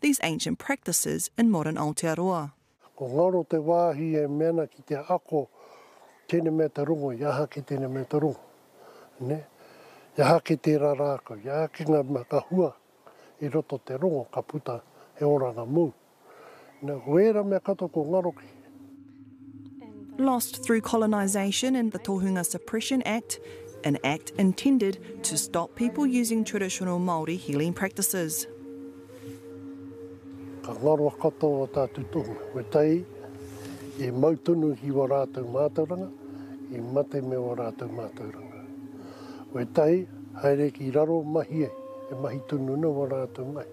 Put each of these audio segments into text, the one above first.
these ancient practices in modern Aotearoa. Ko ngaro te wāhi e mea ana ki te ako tēnei mea te rongo, i aha ake tēnei mea te rongo, nē? I aha ake tērā rākau, i aha ake ngā mea ka hua i roto te rongo ka puta he oranga mōu. Nē, ko ērā mea katoa ko ngaro ki. lost through colonisation and the Tohunga Suppression Act, an act intended to stop people using traditional Māori healing practices. Ka ngaro katoa tātou tonu, me tai i mau tonu ki wa rātou mātauranga, i mate me wa rātou mātauranga. We tai, haere ki raro mahi e, e mahi tonu na wa rātou mahi.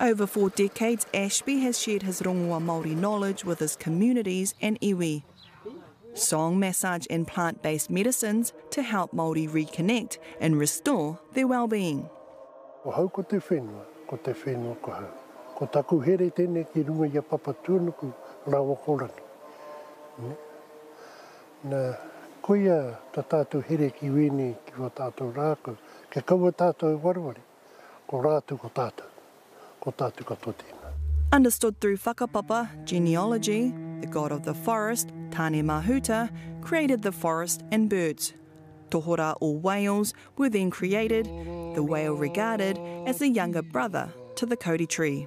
Over four decades, Ashby has shared his rongoa Māori knowledge with his communities and iwi. Song, massage and plant-based medicines to help Māori reconnect and restore their well-being. Ko hau ko te whenua, ko te whenua ko hau. Ko taku here tenei ki runga i a Papatuanuku rawa ko Rangi. Na, koia ta tatou here ki wenei ki wa tatou rakau, kia kaua tatou e wareware. Ko rātou ko tātou, ko tātou katoa tēnā. Understood through whakapapa, genealogy, the god of the forest, Tāne-mahuta, created the forest and birds. Tohorā or whales were then created, the whale regarded as the younger brother to the kauri tree.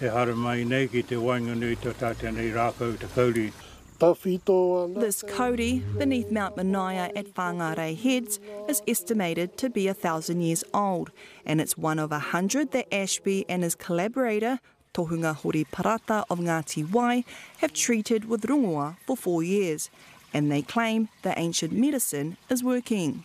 E haere mai nei ki te waenganui tō tātou nei rākau te kauri. Tawhito ana. This kauri, beneath Mount Manaia at Whangarei Heads, is estimated to be a thousand years old, and it's one of a hundred that Ashby and his collaborator, Tohunga Hori Parata of Ngati Wai, have treated with rongoa for four years, and they claim the ancient medicine is working.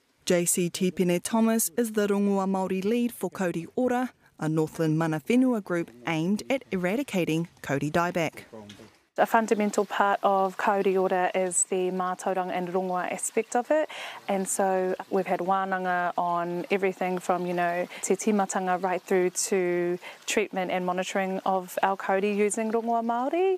JC Tipene Thomas is the Rongoa Māori Lead for Kauri Ora, a Northland Mana Whenua group aimed at eradicating kauri dieback. A fundamental part of Kauri Ora is the mātauranga and rongoa aspect of it and so we've had wānanga on everything from you know te tīmatanga right through to treatment and monitoring of our kauri using rongoa Māori.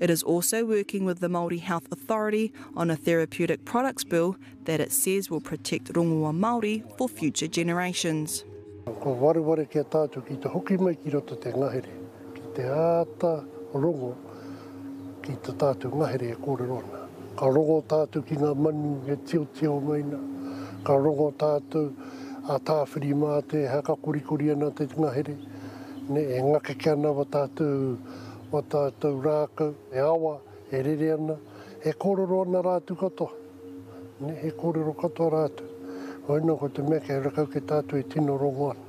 It is also working with the Māori Health Authority on a therapeutic products bill that it says will protect rongoa Māori for future generations. Kua wareware ki a tātou ki te hoki mai ki roto te ngahere, ki te āta rongo ki tā tātou ngahere e kōrero ana. Ka rongo tātou ki ngā manu e tiotio mai ana, ka rongo tātou a tāwhiri mā te aha ka korikori ana te ngahere, e ngakeke ana wa tātou o tātou rākau e awa, e rere ana, e kōrero ana rātou katoa, e kōrero katoa rātou. Koina ko te mea kei rakau kei tātou e tino rongo ana.